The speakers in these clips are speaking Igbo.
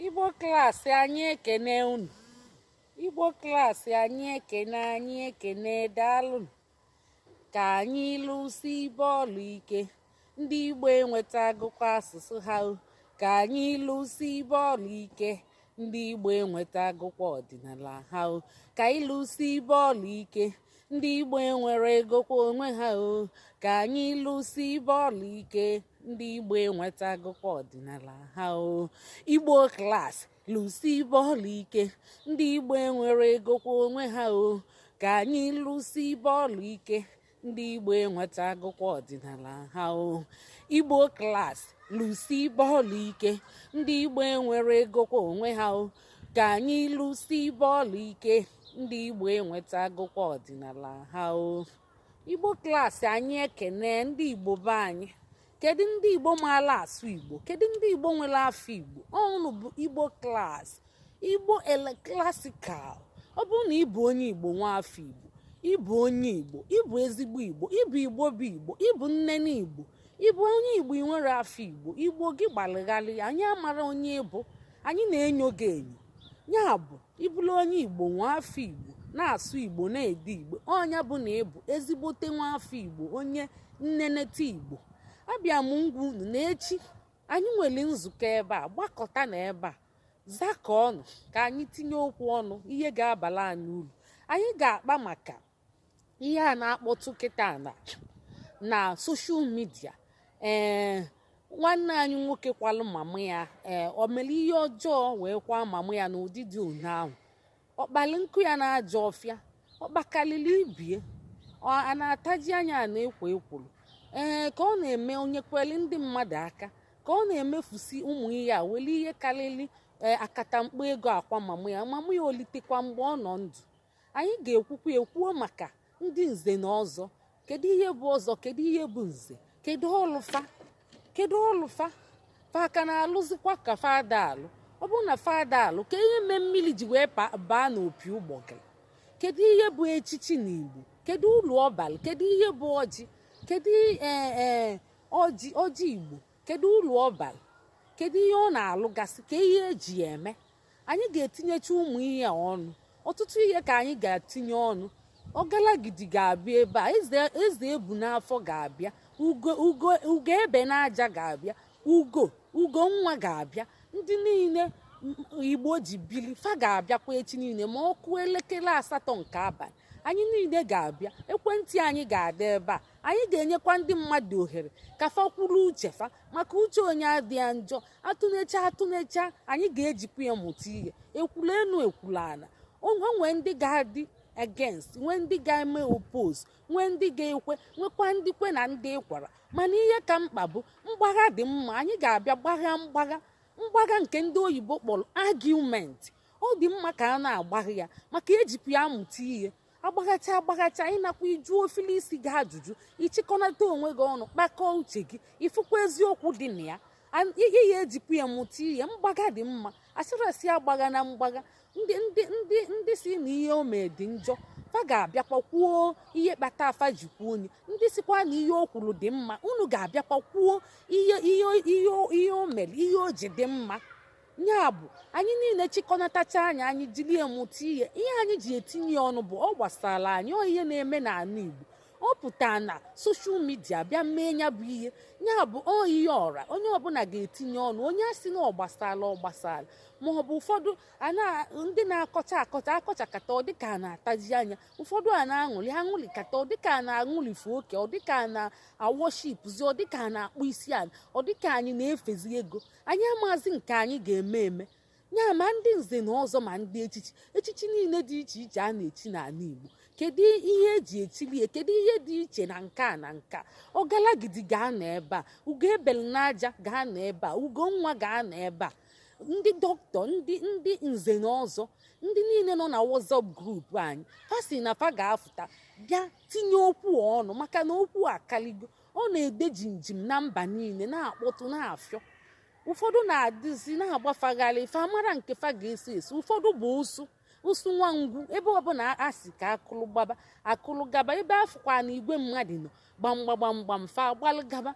igbo klaasị anyị ekene unu igbo klaasị anyị ekene anyị ekene daalụnụ ka anyị lụsibe ọlụ ike ndị igbo enwetagokwa asụsụ ha o ka anyị lụsibe ọlụ ike ndị igbo enwetagokwa ọdịnala ha o ka anyị lụsibe ọlụ ike ndị igbo enweregokwa onwe ha o ka anyị lụsibe ọlụ ike ndị igbo enwetagokwa ọdịnala ha o igbo klas lụsibe ọlụ ike ndị igbo enweregokwa onwe ha o ka anyị lụsibe ọlụ ike ndị igbo enwetagokwa ọdịnala ha o igbo klas lụsibe ọlụ ike ndị igbo enweregokwa onwe ha o ka anyị lụsibe ọlụ ike ndị igbo enwetagokwa ọdịnala ha o igbo klaasị anyị ekene ndị igbo be anyị kedu ndị igbo maala asụ igbo kedu ndị igbo nwere afọ igbo ọ unu bụ igbo klaasị igbo classical ọ bụrụ na ị bụ onye igbo nwa afọ igbo ị bụ onye igbo ị bụ ezigbo igbo ị bụ igbo bụ igbo ị bụ nnene igbo ị bụ onye igbo ị nwere afọ igbo igbo gị gbalịgharị anyị amara onye ị bụ anyị na-enyo gị enyo ya bụ ị bụrụ onye igbo nwa afọ igbo na-asụ igbo na-ede igbo ọ nya bụ na ị bụ ezigbote nwa afọ igbo onye nnenete igbo abịa m ịgwa unu na echi anyị nwere nzukọ ebe a gbakọta na ebe a zukọ ọnụ ka anyị tinye okwu ọnụ ihe ga-abala anyị uru anyị ga-akpa maka ihe a na-akpọtụ kịtaa na na social media ee nwanne anyị nwoke kwalụ mama ya ee o mere ihe ọjọọ wee kwaa mama ya n'ụdị dị ọnụ ahụ ọ kpalị nkụ ya na ajọ ọfịa ọ kpakalịlị ibe ya a na-ataji anya na-ekwo ekworo ee ka ọ na-eme o nyekweli ndị mmadụ aka ka ọ na-emefusi ụmụ ihe a weli ihe karịrị akatamkpo ego akwa mama ya mama ya o litekwa mgbe ọ nọ ndụ anyị ga-ekwukwa ekwuo maka ndị nze na ọzọ kedu ihe bụ ọzọ kedu ihe bụ nze kedu ọlụ fa kedu ọlụ fa fa ka na-alụzikwa ka fa da alụ ọ bụrụ na fa da alụ kee ihe mee mmiri ji wee baa n'opi ụgbọgụrụ kedu ihe bụ echichi na igbo kedu ulu ọ balị kedu ihe bụ ọjị kedu e, e, ọjị ọjị igbo kedu ulu ọ balị kedu ihe ọ na-alụgasị kee ihe e ji ya eme anyị ga-etinyecha ụmụ ihe a ọnụ ọtụtụ ihe ka anyị ga-etinye ọnụ ọgalagidi ga-abịa ebe a eze ebu n'afọ ga-abịa ugo ebe n'aja ga-abịa ugo ugo nwa ga-abịa ndị niile igbo ji bili fa ga-abịakwa echi niile ma ọ kụọ elekere asatọ nke abalị anyị niile ga-abịa ekwentị anyị ga-adị ebe a anyị ga-enyekwa ndị mmadụ ohere ka fa kwuru uche fa maka uche onye adịghị njọ atụnecha atụnecha anyị ga-ejikwa ya mụta ihe ekwulu enu ekwulu ana o nwee ndị ga-adị against nwee ndị ga-eme oppose nwee ndị ga-ekwe nwekwa ndị kwe na ndị ekwera mana ihe ka mkpa bụ mgbagha dị mma anyị ga-abịa gbagha mgbagha mgbagha nke ndị oyibo kpọlụ argument ọ dị mma ka a na-agbaghị ya maka ejikwa ya amụta ihe agbaghacha agbaghacha ị nakwa ị jụọ ofili isi gị ajụjụ ị chịkọnata onwe gị ọnụ kpakọọ uche gị ị fụkwa eziokwu dị na ya ihe ya ejikwa ya mụta ihe mgbagha dị mma asịra sị agbaghana mgbagha ndị ndị ndị ndị si na ihe o mee dị njọ fa ga-abịakwa kwuo ihe kpata fa ji kwuo nya ndị sikwa na ihe o kwuru dị mma unu ga-abịakwa kwuo ihe ihe ihe ihe o mere ihe o ji dị mma ya bụ anyị niile chịkọnatachaa nya anyị jili mụta ihe ihe anyị ji etinye ọnụ bụ ọ gbasara anyị ọ ihe na-eme n'ana Igbo ọ pụta na social media bịa mee ya bụ ihe ya bụ ọ ihe ọra onye ọbụla ga-etinye ọnụ onye a sị na ọ gbasara ọ gbasara ma ọ bụ ụfọdụ ndị na-akọcha akọcha akọchakata ọ dịka a na-ataji anya ụfọdụ a na-aṅụlị aṅụlịkata ọ dịka a na-aṅụlịfe oke ọ dịka a na-aworshipụzi ọ dịka a na-akpụ isi ala ọ dịka anyị na-efezi ego anyị amazi nke anyị ga-eme eme ya ma ndị nze na ọzọ ma ndị echichi echichi niile dị iche iche a na-echi n'ana Igbo kedu ihe eji echili ya kedu ihe dị iche na nke a na nke a ọgalagidi ga-anọ ebe a ugo ebelu n'aja ga-anọ ebe a ugo nwa ga-anọ ebe a ndị dọkịta ndị ndị nze na ọzọ ndị niile nọ na WhatsApp group anyị fa si na fa ga-afụta bịa tinye okwu ọnụ maka na okwu akaligo ọ na-ede jimjim na mba niile na-akpọtụ na-afịọ ụfọdụ na-adịzi na-agbafagharị fa amara nke fa ga-eso eso ụfọdụ bụ ụsụ ụsụ nwa ngwu ebe ọbụla a si ka akụlụ gbaba akụlụ gaba ebe afụkwa na igwe mmadụ nọ gbamgbagbamgbam fa gbalụ gaba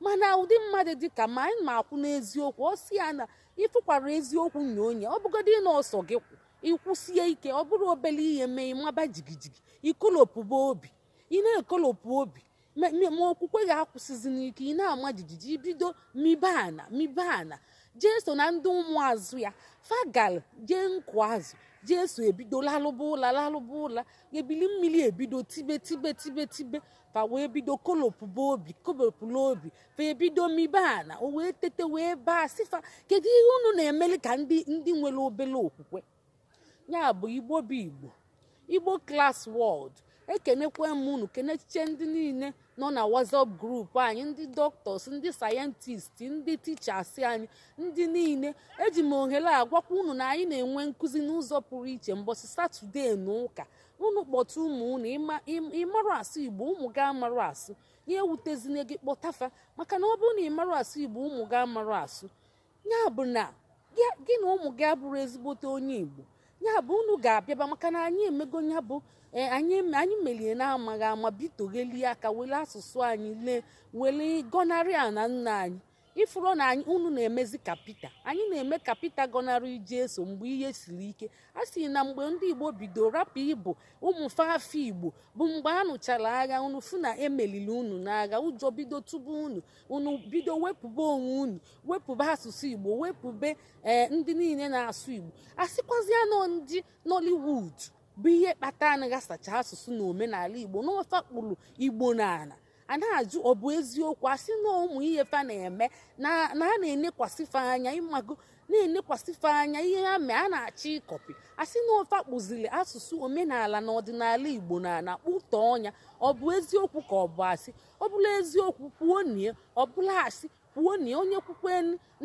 mana ụdị mmadụ dị ka ma anyị na-akwụ n'eziokwu ọ si ya na ịfụkwara eziokwu nye onye ọ bụgodị na ọ sọ gị kwụ ị kwụsie ike ọ bụrụ obele ihe mee ị maba jigijigi i kolopụba obi ị na-ekolopụ obi ma ma- ma okwukwe gị akwụsịzi n'ike ị na-ama jijiji i bido mibe ana mibe ana Jeso na ndị ụmụazụ ya fa galụ jee nkụ azụ Jeso ebido lalụba ụla lalụba ụla ebili mmili ebido tibe tibe tibe tibe fa wee bido kolopụba obi kolopụla obi fa ebido mibe ana o wee tete wee baa sị fa kedu ihe unu na-emeli ka ndị ndị nwelu obere okwukwe ya bụ igbo bụ igbo igbo klas wọld ekenekwe m unu kenechiche ndị niile nọ na whatsapp grupu anyị ndị dọktọs ndị sayentist ndị tichas anyị ndị niile eji m ohere a gwakwa unu na anyị na-enwe nkụzi n'ụzọ pụrụ iche mbọchị satọde na ụka unu kpọta ụmụ unu ị marọ asụ igbo ụmụ gị amarọ asụ ya ewutezina gị kpọta fa maka na ọ bụrụ na ị marụ asụ igbo ụmụ gị amarụ asụ ya bụ na gị na ụmụ gị abụrụ ezigbote onye Igbo ya bụ unu ga-abịaba maka na anyị emego ya bụ e, anyị meli ya n'amaghị ama bitoghelie aka wele asụsụ anyị lee wele gọnarị ana nna anyị ị furu na unu na-emezi ka Pita anyị na-eme ka Pita gọnarị Jesu mgbe ihe siri ike a sị na mgbe ndị igbo bido rapụ ịbụ ụmụ fa afa igbo bụ mgbe a nụchara agha unu fụ na e melili unu n'agha ụjọ bido tụba unu unu bido wepụba onwe unu wepụba asụsụ igbo wepụbe ee eh, ndị niile na-asụ igbo a sịkwazịa na ọ ndị nollywood bụ ihe kpata anaghị asacha asụsụ na omenala igbo na ọ fa kpụrụ igbo n'ala a na-ajụ ọ bụ eziokwu a sị na ụmụ ihe fa na-eme na a na-enekwasị fa anya ị mago na-enekwasị fa anya ihe ha mee a na-achọ ịkọpị a sị na ọ fa kpụziri asụsụ omenala na ọdịnala igbo na na kpụtọ ọnya ọ bụ eziokwu ka ọ bụ asị ọ bụlụ eziokwu kwuonụ ya ọ bụlụ asị kwuonụ ya onye kwukwe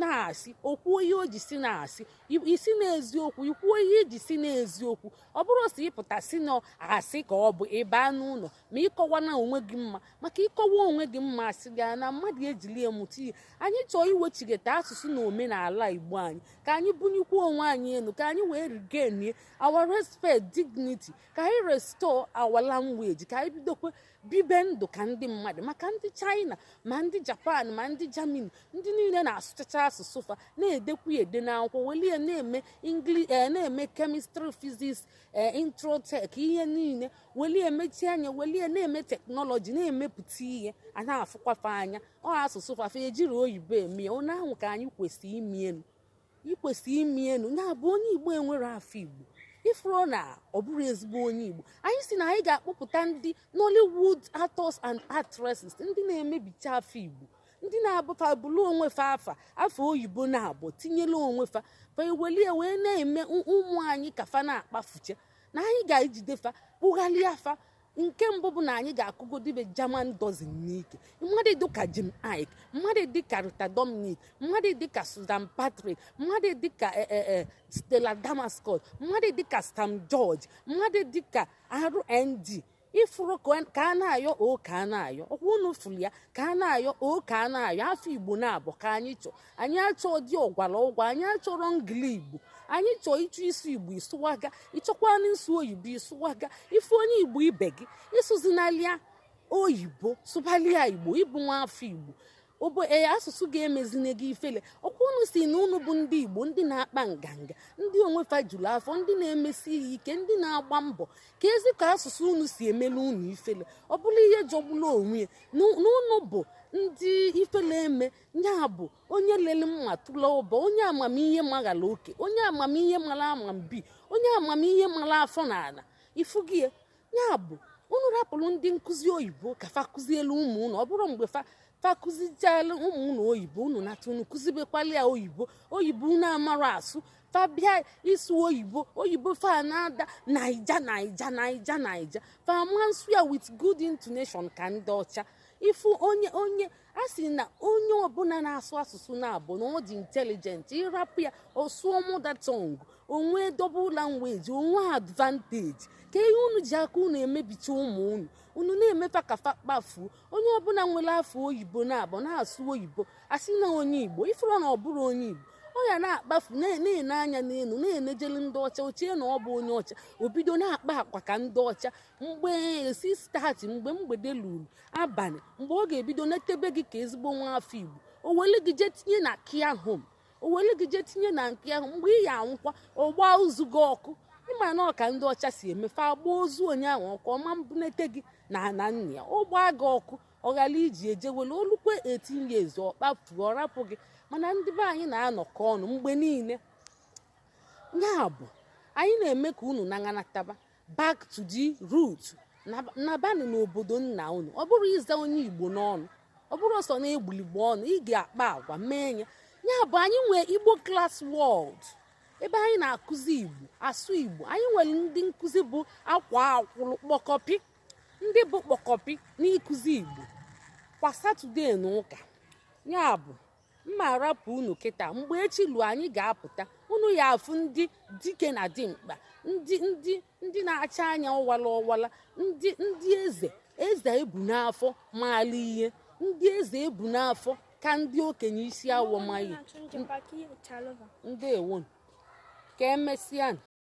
na asị o kwuo ihe o ji sị na asị ị sị na eziokwu i kwuo ihe i ji sị na eziokwu ọ bụrọ sọ ịpụta sị na asị ka ọ bụ ịba n'ụlọ ma ịkọwa na onwe gị mma maka ịkọwa onwe gị mma asị gị na mmadụ ejili ya mụta ihe anyị chọọ iwechighata asụsụ na omenala igbo anyị ka anyị buniekwuo onwe anyị elu ka anyị wee regain our respect dignity ka anyị restore our language ka anyị bidokwe bibe ndụ ka ndị mmadụ maka ndị China ma ndị Japan ma ndị Germany ndị niile na-asụchacha asụsụ fa na-edekwu ya ede n'akwụkwọ weli ya na-eme English eh, na-eme kemistri fiziks eh, introtech ihe niile weli ya mechie anya weli ya na-eme teknọlọji na-emepụta ihe a na-afụkwa fa anya ọ asụsụ fa fa ejirọ oyibo eme ya ụnụ ahụ ka anyị kwesịrị ime ya nụ ikwesị ime ya nụ ya bụ onye igbo enwerọ afa igbo ị furu na ọ bụrọ ezigbo onye igbo anyị sị na anyị ga-akpọpụta ndị nollywood actors and actresses ndị na-emebicha afa igbo ndị na-abụ fa bụrụ onwe fa afa afa oyibo na-abụ tinyela onwe fa fa eweli ya wee na-eme ụmụ anyị ka fa na-akpafucha na anyị ga-ejide fa kpụgharịa fa nke mbụ bụ na anyị ga-akụgodibe German dozen n'ike mmadụ dịka Jim Iyke mmadụ dịka Rita Dominic mmadụ dịka Susan Patrick mmadụ dịka eh, eh, eh, Stella Damascus mmadụ dịka Shan George mmadụ dịka RMD ị furu ka a na-ayọ o ka a na-ayọ ọkwa unu furu ya ka a na-ayọ o ka a na-ayọ afa Igbo na-abụ ka anyị chọ anyị achọ dị ọgwara ọgwa anyị achọrọ ngiligbo anyị chọọ ị chọọ ịsụ igbo ị sụwaga ị chọkwanụ ịsụ oyibo ị sụwaga ị fụ onye igbo ibe gị asụzinalị ya oyibo sụbalị ya igbo ị bụ nwa afọ igbo obo ee eh, asụsụ ga-emezine gị ifele ọ kwa unu sị na unu bụ ndị igbo ndị na-akpa nganga ndị onwe fa juru afọ ndị na-emesi ihe ike ndị na-agba mbọ keezi ka asụsụ unu si emelu unu ifele ọ bụla ihe jọgbula onwe ya na unu bụ ndị ifele eme ya bụ onye lele mma tụla ụba onye amamihe maghara oke onye amamihe mara amambi onye amamihe mara afọ n'ala ifu gị ya ya bụ unu rapụrụ ndị nkụzi oyibo ka fa kụzielu ụmụ unu ọ bụrụ mgbe fa fa kụzichaala ụmụ unu oyibo unu nata unu kụzibekwala ya oyibo oyibo unu amara asụ fa bịa ịsụ oyibo oyibo fa na-ada naija naija naija naija fa ma nsụ ya with good intonation ka ndị ọcha ị fụ onye onye a sị na onye ọbụla na-asụ asụsụ naabọ na ọ dị intelligent ị rapụ ya ọ sụọ mother tongue o nwee double language o nwee advantage kee ihe unu ji aka unu emebicha ụmụ unu unu na-eme fa ka fa kpafuo onye ọbụla nwere afọ oyibo na-abụ na-asụ oyibo a sị na onye igbo ị fụrụ na ọ bụrọ onye igbo ọ ya na-akpafu na-ene anya n'elu na-enejelu ndị ọcha o chee na ọ bụ onye ọcha o bido na-akpa agwa ka ndị ọcha mgbe si stati mgbe mgbede luru abalị mgbe ọ ga-ebido netebe gị ka ezigbo nwa afọ igbo o were gị jee tinye na care home o were gị jee tinye na nke ahụ mgbe ị ya anwụkwa ọ gbaa ozu gị ọkụ ị ma na ọ ka ndị ọcha si eme fa agba ozu onye ahụ ọkụ ọ ma mbunata gị n'ana nna ya ọ gbaa gị ọkụ ọ ghara iji eje were olukwe etinye ezu ọ kpafuo ọ rapụ gị mana ndị be anyị na-anọkọ ọnụ mgbe niile ya bụ anyị na-eme ka unu na-anataba back to the root nabanụ n'obodo nna unu ọ bụrọ ịza onye igbo n'ọnụ ọ bụrọ ọsọ na-egbulu igbo ọnụ ị ga-akpa agwa mee ya ya bụ anyị nwee igbo class world ebe anyị na-akụzi igbo asụ igbo anyị nwere ndị nkụzi bụ akwaa akwụrụ kpọkọpị ndị bụ kpọkọpị n'ịkụzi igbo kwa satọde na ụka ya bụ m ma arapụ unu kịta mgbe echi luo anyị ga-apụta unu ya afụ ndị dike na dimkpa ndị ndị ndị na-acha anya ọwala ọwala ndị ndị eze eze ebu n'afọ maala ihe ndị eze ebu n'afọ ka ndị okenye isi awọ maghị ndeewonụ ka emesịa